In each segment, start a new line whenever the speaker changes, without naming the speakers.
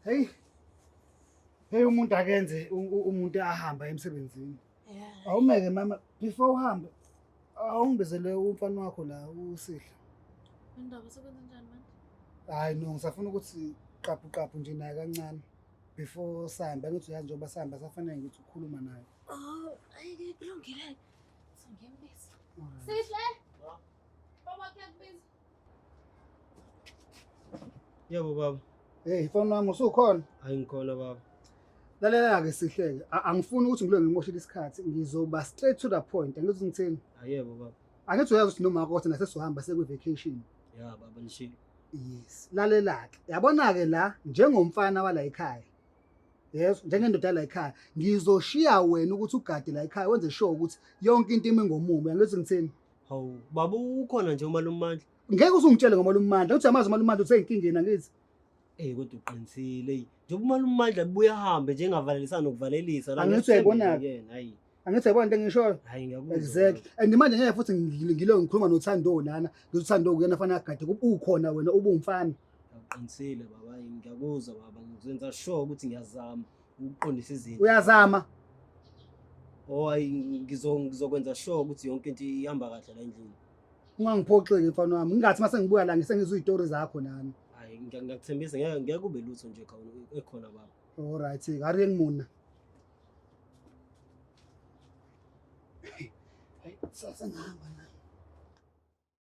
Hey. Hey umuntu akenze umuntu ahamba emsebenzini. Yeah. Awumeke
mama
before uhambe awungibizele umfana wakho la usihle. Indaba
sekwenza njani manje? Hayi no
ngisafuna ukuthi qaphu qaphu nje naye kancane before sihamba ngithi uyazi njengoba sihamba safanele ngithi ukhuluma naye. Oh, ayike
kulungile. Singembisa. Sihle. Baba kuyakubiza.
Yebo baba. Hey, ifoni wami
usukhona? Hayi ngikhona baba.
Lalela-ke
sihleke. A- Angifuni ukuthi ngilo ngimoshile isikhathi. Ngizoba straight to the point. Angithi ngithini? Ayebo baba.
Angithi uyazi ukuthi noma
kodwa nasesohamba sekwi-vacation. Ya baba
nishilo. Yes.
Lalela-ke. Yabona-ke la njengomfana wala ekhaya. Yes, njengendoda la ekhaya. Ngizoshiya wena ukuthi ugade la ekhaya wenze sure ukuthi yonke into imi ngomumo. Angithi ngithini? Hawu baba
ukhona nje umalumandla. Ngeke usungitshele
ngomalumandla. Uthi amazi umalumandla useyinkingeni angithi. Eh kodwa
uqinisile eyi. Njengoba umalumandla buye ahambe nje engavalelisa nokuvalelisa la. Angithi uyayibona yena hayi.
Angithi yabona
into engishoyo.
Hayi ngiyakuzwa. Exactly.
And manje ngeke
futhi ngilo ngikhuluma noThando lana. Ngizothando kuyena fanele agade ukhona wena ubumfana. Uqinisile
baba ngiyakuzwa baba ngizenza sure ukuthi ngiyazama. ukuqondisa izinto uyazama
oh ayi
ngizo- ngizokwenza sure ukuthi yonke into ihamba kahle la endlini ungangiphoxeki
mfana wami ngingathi mase ngibuya la ngisengizwa iy'tori zakho nami hayi ngiya- ngiyakuthembisa
ngeke ngeke kube lutho nje khawula ekhona baba olright kari
engimuna sasengihamba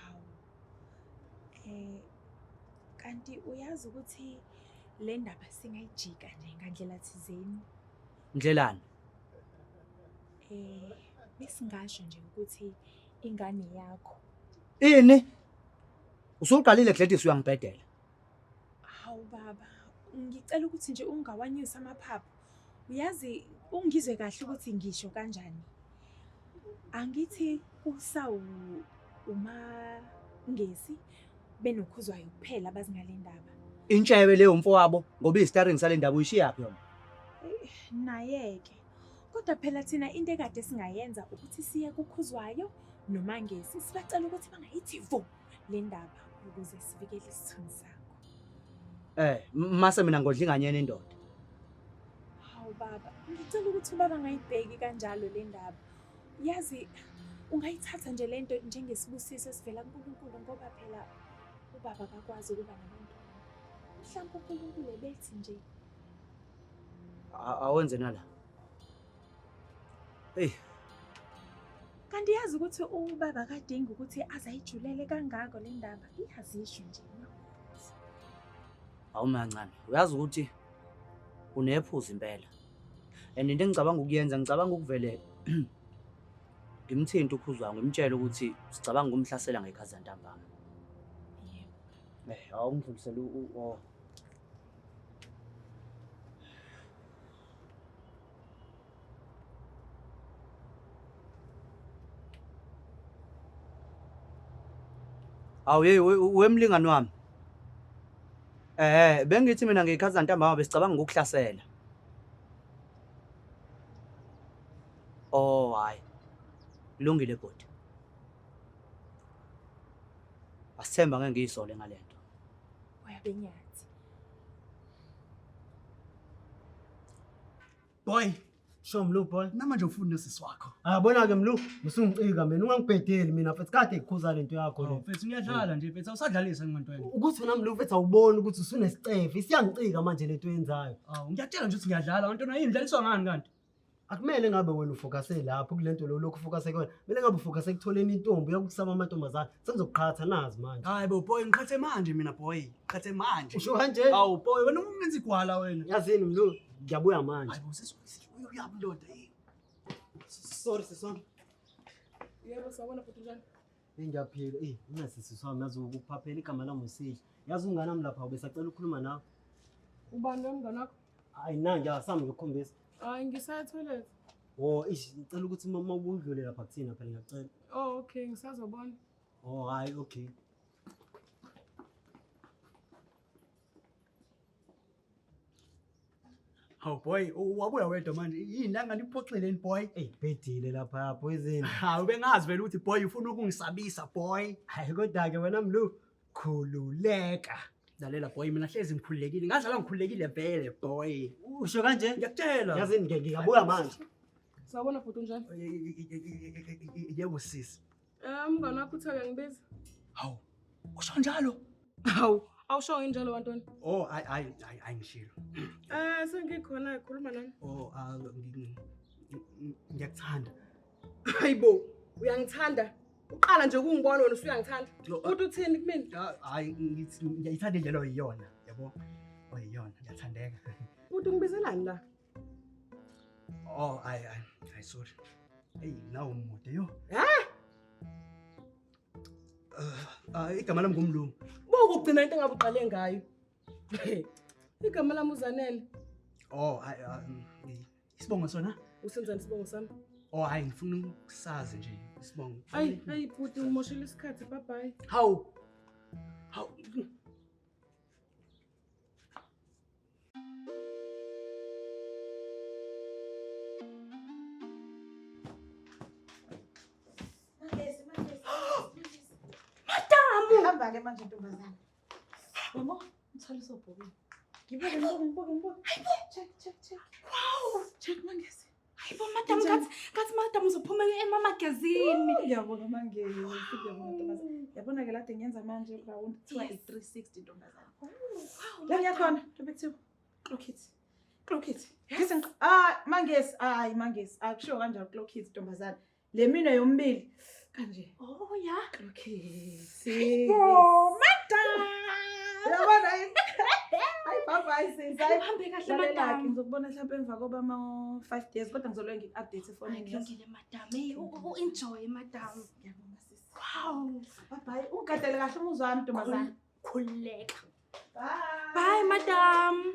Hawu. Eh kanti uyazi ukuthi le ndaba singayijika nje ngandlela thizeni. Ndlelani?
Eh
besingasho nje ukuthi ingane yakho. Ini?
Usuqalile Gladys uyangibhedela. Hawu
baba, ngicela ukuthi nje ungawanyusi amaphaphu. Uyazi ungizwe kahle ukuthi ngisho kanjani. Angithi kusawu uma ngesi benokhuzwayo kuphela abazi ngale ndaba. Intsha yabe leyo
mfowabo ngoba istaring sale ndaba uyishiyaphi yona? Eh,
Nayeke. Kodwa phela thina into ekade singayenza ukuthi siye kukhuzwayo nomangesi sibacela ukuthi bangayithi vu. le ndaba ukuze sivikele isithunzi sakho. Eh, mase mina
ngodla inganyeni indoda.
Hawu baba, ngicela ukuthi ubaba ngayibheki kanjalo le ndaba. Yazi ungayithatha nje le nto njengesibusiso esivela kuNkulunkulu ngoba phela ubaba akakwazi ukuba nabantu. Mhlawumbe uNkulunkulu ebethi nje
awenze nala Hey.
Kanti yazi ukuthi ubaba kadingi ukuthi azayijulele kangako le ndaba. Iyazisho nje.
Awumancane. Uyazi ukuthi unephuza impela. And into engicabanga ukuyenza ngicabanga ukuvele ngimthinte ukhuzwa ngimtshele ukuthi sicabanga ukumhlasela ngekhaza ntambama.
Yebo. Eh, awungidlulisela u
Awu hey wemlingani wami. Eh bengithi mina ngikhaza ntambama besicabanga ukukuhlasela. Oh hayi. Lungile bhuti. Asithemba ngeke ngiyisole ngalento. Uyabenyathi.
Boy, sho Mlu boy. Namanje ufuna usisi wakho.
Ah bona ke Mlu,
musungicika mina ungangibhedeli mina mfethu kade ikhuza lento yakho le. Mfethu uyadlala nje mfethu
awusadlalisa ngimanto wena. Ukuthi wena Mlu mfethu
awuboni ukuthi usunesicefe, isiyangicika manje
lento yenzayo. Awu ngiyatshela
nje ukuthi
ngiyadlala, wena ntona
yini
dlaliswa ngani kanti?
akumele ngabe wena ufokase lapho kule nto lo lokhu ufokase kuyona kumele ngabe ufokase ekutholeni intombi uyakukusaba amantombazane Sengizokuqhatha nazi manje. Hayi bo boy ngiqhathe
manje mina boy. Qhathe manje. Usho kanje? Awu boy
wena ungenza
igwala wena. Yazini mlu
ngiyabuya manje. Hayi bo sesifuna
uyabuloda yini?
Sorry sisona.
Yebo sawona futhi njani? Ngiyaphila.
Eh, ungasisi sami yazi ukuphaphela igama lami usihle. Yazi umngane wami lapha ubesacela ukukhuluma nawe. Ubani lo mngane
wakho? Hayi na nje asami
ngikukhombisa. Hayi ngisaya
toilet. Oh, ish
ngicela ukuthi mama ubudlule lapha kuthina phela ngiyacela. Oh, okay,
ngisazobona. Oh, hayi
okay.
Hawu boy, u- wabuya wedwa manje. Yini la ngani uphoxeleni boy? Ey, bhedile lapha
poison. Hawu bengazi vele
ukuthi boy ufuna ukungisabisa boy. Hayi kodwa ke wena
mlu, khululeka lalela
boy mina hlezi ngikhululekile ngazalwa ngikhululekile vele boy usho kanje
ngiyakutshela yazi ngike
ngiyabuya
manje sawubona bhuti
unjani
yebo sisi um mngane wakho
uthaka ngibiza hawu
usho njalo hawu
awushongo injalo wantoni oh hayi hayi
hayi hayi ngishilo um
sengikhona khuluma nami oh ah, ngi-
ngi- ngiyakuthanda hayibo
uyangithanda uqala nje ukungibona wena usuyangithanda uthi uthini kumina ah, hayi ngithi
ngiyayithanda indlela oyiyona yabo oyiyona ngiyathandeka uthi ungibizelani
la
oh hayi hayi hayi sorry eyi nawo umude yo ha ah, ah, igama lami ngumlungu boku ugcina into engabe
uqale ngayo igama lami uzanele oh
hayi Isibongo sona? Usenzani isibongo sami?
Oh hayi ngifuna
ukusazi nje isibongo. Hayi hayi bhuti
umoshela isikhathi bye bye. Hawu.
Hawu.
Madamu! Hamba ke manje ntombazana. Mama, mthwalo sobhokile. Ngibuke, ngibuke, ngibuke, ngibuke. Hayibo! Check, check, check. Wow! Check mangezi. Hayibo, madam, ngathi
ngathi madam uzophuma emamagazini. Ngiyabonga mangezi.
Ngiyabonga ntokazi. Yabona ke lade ngenza manje round kuthiwa i-360 ntombazana. La ngiyakhona, ntobe kuthiwa. Clock it. Clock it. Ngizeng ah mangezi, hayi mangezi. Akushiwo kanjalo clock it ntombazana. Le mina yombili kanje. Oh ya.
Okay.
Si. Oh, madam. Yabona yini? Hayi baba isiza. Uhambe kahle madam.
Ngizokubona mhlawumbe emva koba
ama 5 days kodwa ngizolwe ngi update ifoni yakho. Ngizongile madam. Hey,
u enjoy madam. Ngiyabonga sisi.
Wow. Bye
bye. Ungadele
kahle umuzwa wami ntombazana. Khuleka. Bye. Bye madam.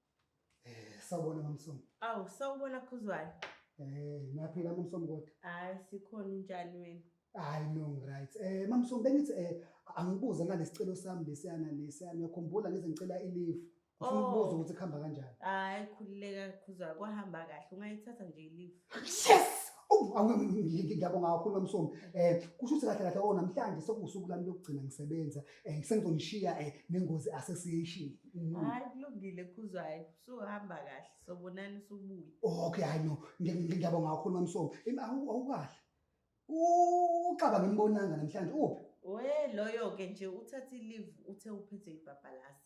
Eh, sawubona mamsomo. Awu, sawubona
Khuzwayo. Eh, naphila
mamsomo kodwa. Hayi, sikhona
unjani wena? Hayi no
right. Eh mamsomo bengithi eh angibuze ngalesicelo sami lesiyana lesiyana ngiyakhumbula ngize ngicela i-leave. Ngifuna Oh. ukubuza ukuthi kuhamba kanjani. Hayi, khululeka
Khuzwayo, kwahamba kahle. Ungayithatha nje i-leave. Yes!
Oh, awu, ngi- ngi- ngiyabonga kakhulu mamsomo. Eh kusho ukuthi kahle kahle oh namhlanje sekuwusuku lami lokugcina ngisebenza. Eh sengizonishiya eh nengozi association. Mm. Hayi
kulungile khuzwayo. Suhamba kahle sobonani subuye. Okay hayi
no ngiyabonga kakhulu mamsomo. Imi awukahle. Uxaba ngimbonanga namhlanje uphi? We loyo
ke nje uthatha i-leave uthe uphethe ibhabhalasa.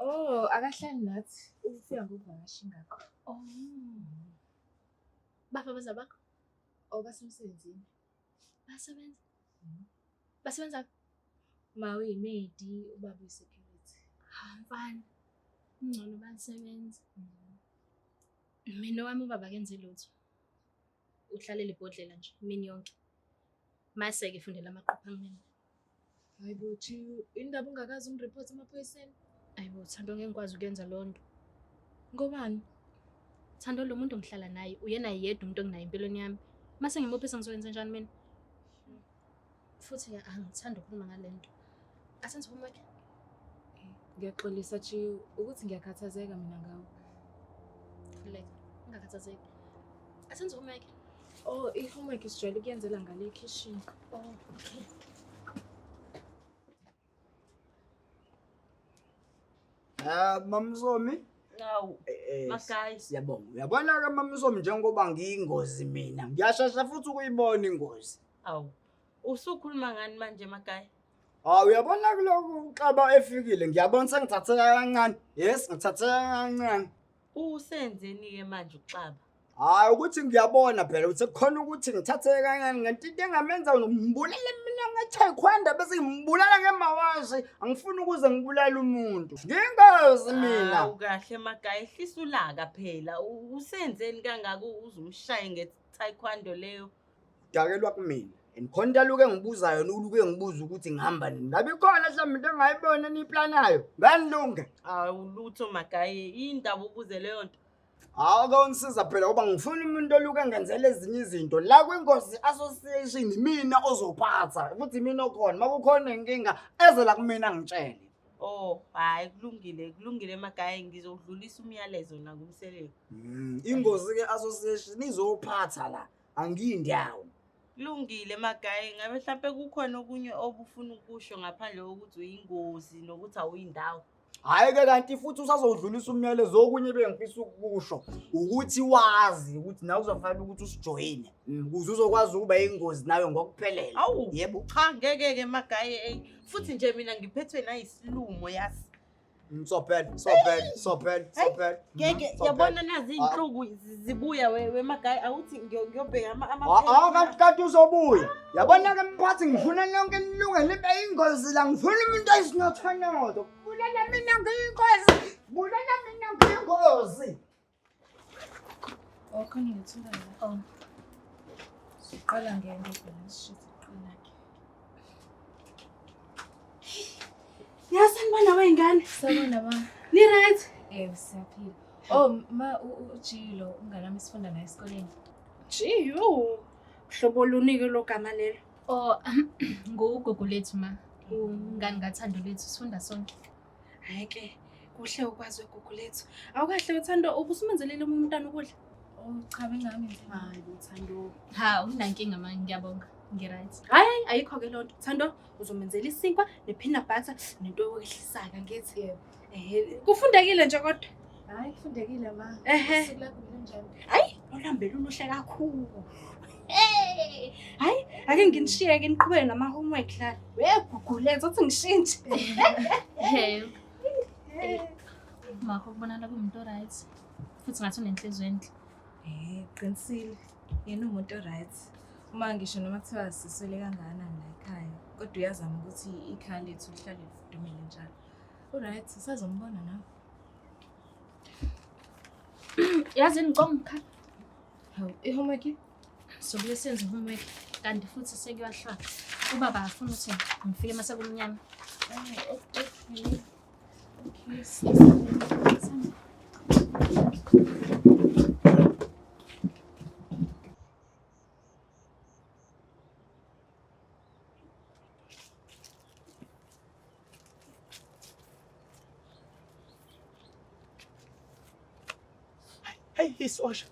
Oh,
akahlali nathi. Ukufika ngokuvakasha ingakho. Oh.
Bapha baza bakho? Oh,
basemsebenzini.
Basebenza? Mm.
Basebenza ma uyimedi ubaba uyisecurity. Ha, ah, mfana.
Ngcono basebenza. Mm. Mina wami ubaba kenze lutho. uhlalela ibhodlela nje imini yonke maseke
fundela amaqupha kumina hayi bo
chiyu indaba ungakazi umreport emaphoyiseni hayi bo thando
ngeke ngikwazi ukuyenza loo nto ngobani thando lo muntu ngihlala naye uyena yedwa umuntu enginayo empilweni yami mase ngimuphi sengizoyenza njani mina Futhi ke angithandi ukukhuluma ngalento. Asenze homework. Ngiyaxolisa
Chiyo ukuthi ngiyakhathazeka mina ngawe.
Khuleka, ungakhathazeki. Asenze homework. Oh, i-homework
sijwayele ukuyenzela ngale ekhishini. Oh, okay.
Ah, mamsomi. Awu. Eh, eh,
Makayi. Siyabonga. Uyabona
ke mamsomi njengoba ngiyingozi mina. Ngiyashasha futhi ukuyibona ingozi. Awu.
Usukhuluma ngani manje Makayi? Ah uyabona
kuloko uxaba efikile ngiyabona sengithatheka kancane. Yes ngithatheka kancane. Usenzeni-ke
manje uXaba? Hayi ukuthi
ngiyabona phela ukuthi kukhona ukuthi ngithathe kancane ngento into engamenza ngimbulele mina ngeTaekwondo bese ngimbulala ngemawashi angifuni ukuze ngibulale umuntu ngingazi mina Hawu kahle magaya
ehlisa ulaka phela. U- Usenzeni kangaka uzumshaye ngeTaekwondo leyo? Udakelwa
kumina. And khona into aluke engibuza yona uluke engibuza ukuthi ngihamba nini. Ngabe khona mhlawumbe into engayibona eniyiplanayo. Nganilunge. Awulutho
magaye indaba ubuze leyo nto. Hawu ke ungisiza
phela ngoba ngifuna umuntu oluke engenzela ezinye izinto. La kwiNkosi Association mina ozophatha. Futhi mina okhona. Makukhona inkinga eze la kumina ngitshele. Oh, hayi
kulungile, kulungile magaye ngizodlulisa umyalezo nakumseleni. Mm. Ingozi
ke association izophatha la. angiyi ndawo kulungile
magaye ngabe mhlawumpe kukhona okunye obufuna ukusho ngaphandle kokuthi uyingozi nokuthi awuyindawo hhayi-ke kanti
futhi usazowudlulisa umyalezo okunye bengifisa ukusho ukuthi wazi ukuthi nawe kuzofanele ukuthi usijoyine mm, ukuze uzokwazi ukuba yingozi nawe ngokuphelela awu yebo cha
ngeke-ke magaye eyi futhi nje mina ngiphethwe nayisilumo yasi Msopel,
mm, sopel, sopel, sopel.
Ngeke mm, yabona nazi ah. inhluku zibuya wemagayi awuthi ngiyobheka ama ama. Ah, ah kanti kanti
uzobuya. Yabona ke mphathi ngifuna lonke nilunge libe ingozi la ngifuna umuntu ayisinothanodo. Bulela mina ngiyingozi. Bulela mina ngiyingozi.
Awukho ngiyethula la. Oh. Siqala ngento phela sishithe iqina ke.
Yasani bana wey'ngane. Sabona ba.
Ni right?
Eh siyaphila.
Oh ma ujilo unganami sifunda naye esikoleni. Jiyo.
Hlobo lunike lo gama lelo. Oh
ngugogo lethu ma. Ungani ngathando lethu sifunda sonke. Hhayi ke,
kuhle ukwazi wegugu lethu. Awukahle wethando ubusumenzelile omunye umntana ukudla. Oh cha
bengami nje. Hayi bo Thando.
Ha unankinga
manje ngiyabonga. Ngiright. Hayi hayi ayikho ke
lonto. Thando uzomenzela isinkwa nepeanut butter nento yokwehlisa ke ngithi. Eh kufundekile nje kodwa. Hayi kufundekile
ma. Ehe.
Usuku lakho belinjani? Hayi, olambele uluhle kakhulu. Hey! Hayi, ake nginishiyeke niqhubeke nama homework la. Wegugule uzothi ngishintshe.
Hey. Makho kubonakala kumuntu oright. Futhi ngathi unenhliziyo enhle. Eh, qinisile.
Yena umuntu oright. Uma ngisho noma kuthiwa siswele kangana la ekhaya, kodwa uyazama ukuthi ikhaya lethu lihlale lidumile njalo. Uright, usazombona nawe.
yazini ngicoma umkhala hawu
i-homework sobule
senze i-homework kanti futhi sekuyahlwa ubaba afuna ukuthi ngifike uma sekumnyama
Hey, hey, Sosha.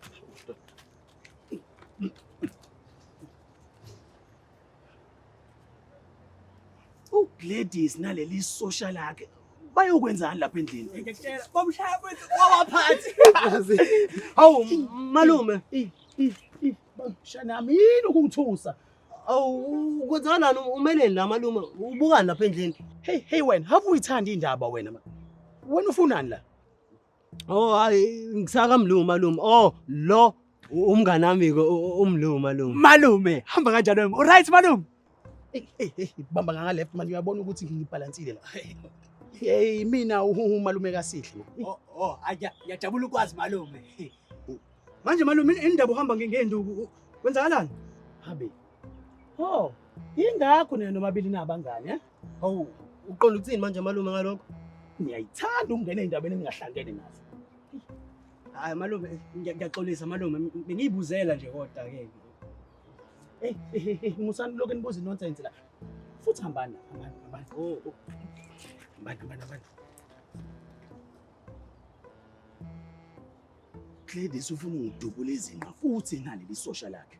uGladys naleli sosha lakhe bayokwenzani lapha endlini ngiyakutshela bamshaya kwethu wawaphathi
hawu malume
bamshaya nami yini ukungithusa Awu
kwenzakalani umeleni la malume ubukani lapha endlini? Hey hey wena, have
uyithanda indaba wena ma. Wena ufunani la? Oh
hayi ngisaka mlungu malume. Oh lo umngane wami ke umlungu malume. Malume, hamba
kanjani wena? Alright malume. Hey hey hey, bamba ngaka left man uyabona ukuthi ngibalansile la. Hey mina umalume kasihle. Oh oh, ayajabula
ukwazi malume.
Manje malume indaba uhamba ngenduku kwenzakalani? Habe. Oh, ingakho nina nomabili nabangane eh? Hawu,
uqonda ukuthini manje malume ngalokho? Ngiyayithanda
ukungena endabeni engingahlangene nazo.
Hayi malume, ngiyaxolisa malume, bengiyibuzela nje kodwa ke. Hey, hey,
hey, musani lokho enibuza nonsense la. Futhi hambani, hambani, hambani. Oh,
oh.
Hambani, hambani, hambani. Gladys ufuna ungidubula izinqa futhi ngaleli sosha lakhe.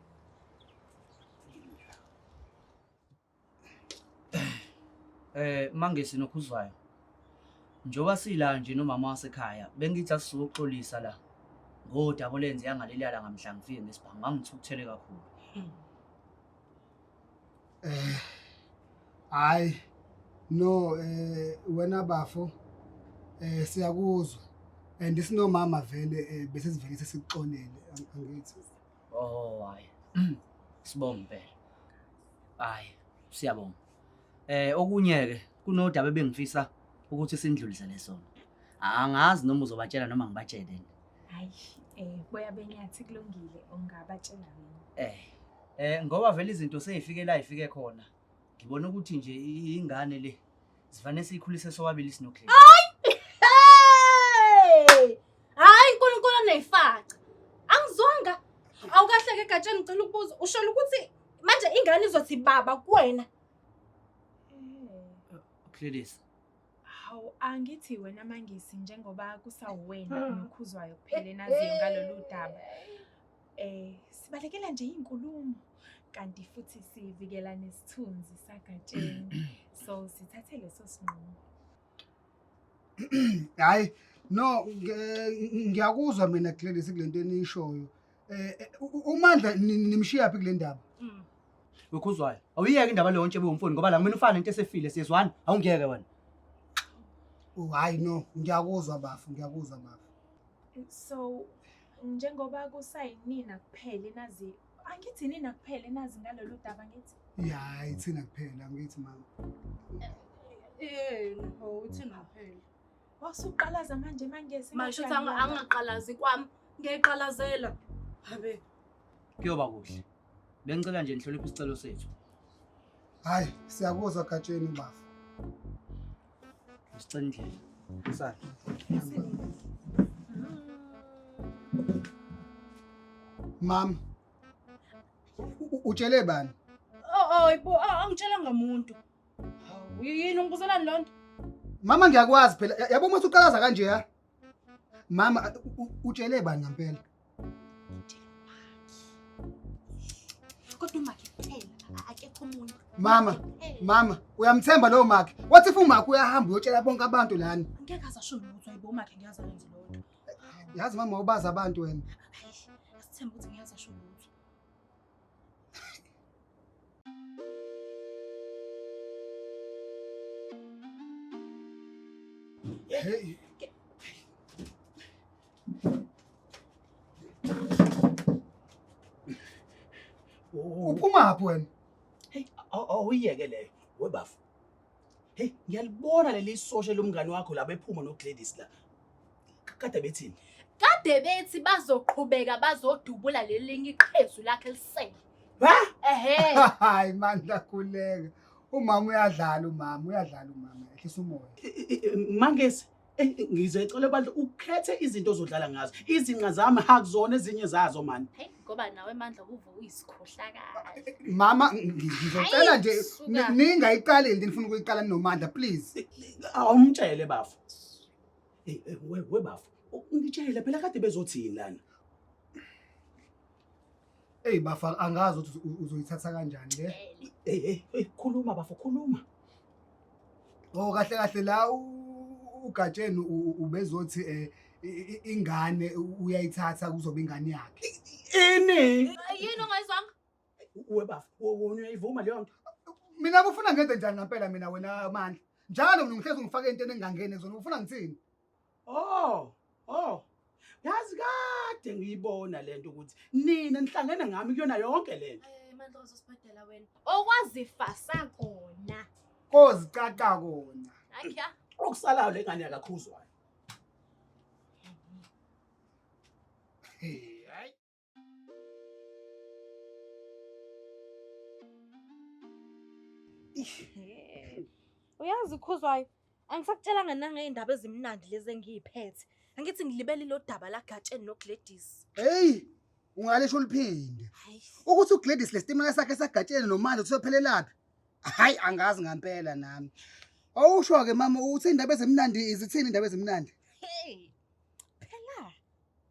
Eh mangesi nokhuzwayo. Njoba sila nje nomama wasekhaya bengithi asizoxolisa la. Ngoda kolenze yangalelala ngamhla ngifike ngesibhangu ngangithukuthele kakhulu.
eh hayi no eh wena bafo eh siyakuzwa and isinomama vele eh, bese sivele sesikuxolele ang- angithi Oh
hayi. Sibonga impela. Hayi, siyabonga. Eh okunye ke kunodaba ebengifisa ukuthi sindlulisele sona. Angazi noma uzobatshela noma ngibatshele. Hayi, eh
boya benyathi kulungile ungabatshela mina. Eh eh ngoba vele izinto
seyifike la ifike khona. Ngibona ukuthi nje ingane le sifanele siyikhulise sobabili sinokhle. Hayi!
Hayi uNkulunkulu onefaca. Angizwanga. Awukahleke egatsheni ngicela ukubuza. Usholo ukuthi manje ingane izothi baba kuwena
uklelisa hawu
angithi wena mangisi njengoba kusawuwena ah. nokhuzwayo kuphela enaziyo ngalolu daba eh sibalekela nje inkulumo kanti futhi sivikela nesithunzi sagatsheni so sithathe leso sinqumo
hayi no ngiyakuzwa mina Gladys kulento enishoyo Eh, eh, u- u- uMandla ni- nimshiyaphi kule ndaba? Mm. wekhuzwayo
awuyeke indaba leyo ntshebe womfoni ngoba la kumele ufane into esefile siyezwana awungeke wena
Oh, hayi no, ngiyakuzwa bafo, ngiyakuzwa bafo. so
njengoba kusayinina kuphele nazi angithi nina kuphele nazi ngalolu daba ngithi Ya, hayi thina
kuphela ngithi mama. Eh,
no, uthina phela. Wasuqalaza
manje mangezi. Masho ukuthi angaqalazi
kwami. Ngiyiqalazela. Habe. Kuyoba
kuhle. Bengicela nje nihloniphe isicelo sethu. Hayi,
siyakuzwa Gatsheni bafo.
Sicela indlela. Sala.
Mama. Utshele bani? Oh, oh, ibo,
angitshelanga umuntu. Hawu, yini ungibuzelani loo nto mama ngiyakwazi
phela Ya- yabo uma usuqalaza kanje ya mama a- u- u- utshele bani ngampela
kodwa umakhe kuphela a- akekho omunye mama Kuphela. mama
uyamthemba lowo makhe wathi if umakhe uyahamba uyotshela bonke abantu lana angeke aze asho lutho
ayibo umakhe ngiyazi ayenze loo nto yazi mama
ubazi abantu wena Ayi, asithembe
ukuthi ngiyazi asho lutho
Hey. Uphuma phi wena? Hey,
awuyeke leyo. Webafo. Hey, ngiyalibona leli sosha lomngane wakho laba ephuma noGladys la. Kade bethini? Kade bethi
bazoqhubeka bazodubula lelinye iqhezu lakhe lisele. Ha? Ehhe.
Hayi mandla
khuleka. Umama uyadlala umama, uyadlala umama. Ehlisa umoya. Mangesi.
ngize ecela bandla ukhethe izinto ozodlala ngazo izinqa zami hakuzona ezinye zazo mani hey ngoba nawe mandla
kuvuka uyisikhohlakala mama
ngizocela nje ningayiqali into nifuna ukuyiqala nomandla please awumtshele
bafo hey we bafo ngitshele phela kade bezothini lana
Ey bafa angazi ukuthi uzo- uzoyithatha kanjani le. Hey hey hey
khuluma bafo khuluma.
Oh kahle kahle la u- uGatsheni u- u- ubezothi eh i- i- ingane u- uyayithatha kuzoba ingane yakhe. Ini? Yini
ongayizwanga?
Uwe bafo
wona uyayivuma leyo nto. Mina kufuna
ngenze njani ngempela mina wena Mandla. Njalo mina ngihlezi ngifake into engangene zona ufuna ngithini? Oh, oh.
Yazi kade ngiyibona lento ukuthi nina nihlangene ngami kuyona yonke lento. Eh mandla uzosibhadela
wena. Okwazifasa kona. Kozicaca
kona. Akya.
Okusalayo lengane
yakakhuzwayo. Hey.
uyazi ukhuzwayo angisakutshelanga nangey'ndaba ezimnandi lezi engiyiphethe angithi ngilibele ilo daba lagatsheni nogladys heyi
ungalisho uliphinde ukuthi ugladys le sitimela sakhe sagatsheni nomandla ukuthi sophelelaphi hhayi angazi ngampela nami awusho-ke mama ukuthi iy'ndaba ezimnandi izithini iy'ndaba ezimnandi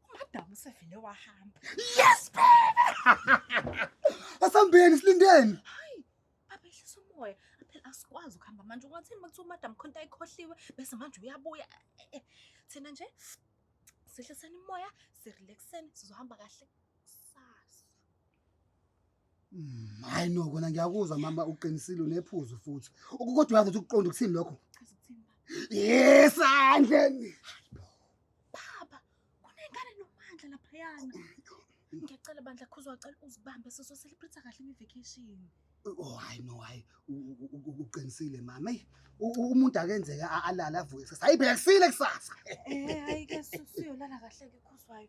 umadam usevele wahamba yes
baby asambeni silindeni hayi baba
ehlisa umoya phela asikwazi ukuhamba manje ungathini makuthiwa umadam khonta ikhohliwe bese manje uyabuya eh, eh, thina nje sihliseni umoya sirelaxeni sizohamba kahle
Mm, hayi no kona ngiyakuzwa mama uqinisile unephuzu futhi ukukodwa uyazi ukuthi ukuqonda ukuthini lokho yesandleni
baba kunengane nomandla laphayana ngiyacela bandla khuza wacela uzibambe soso celebrate kahle imivacation Oh hayi
no hayi uqinisile mama eyi umuntu akenzeka alala avuke kusasa hayi phela kusile kusasa eh hayi ke
siyolala kahle ke khuzwayo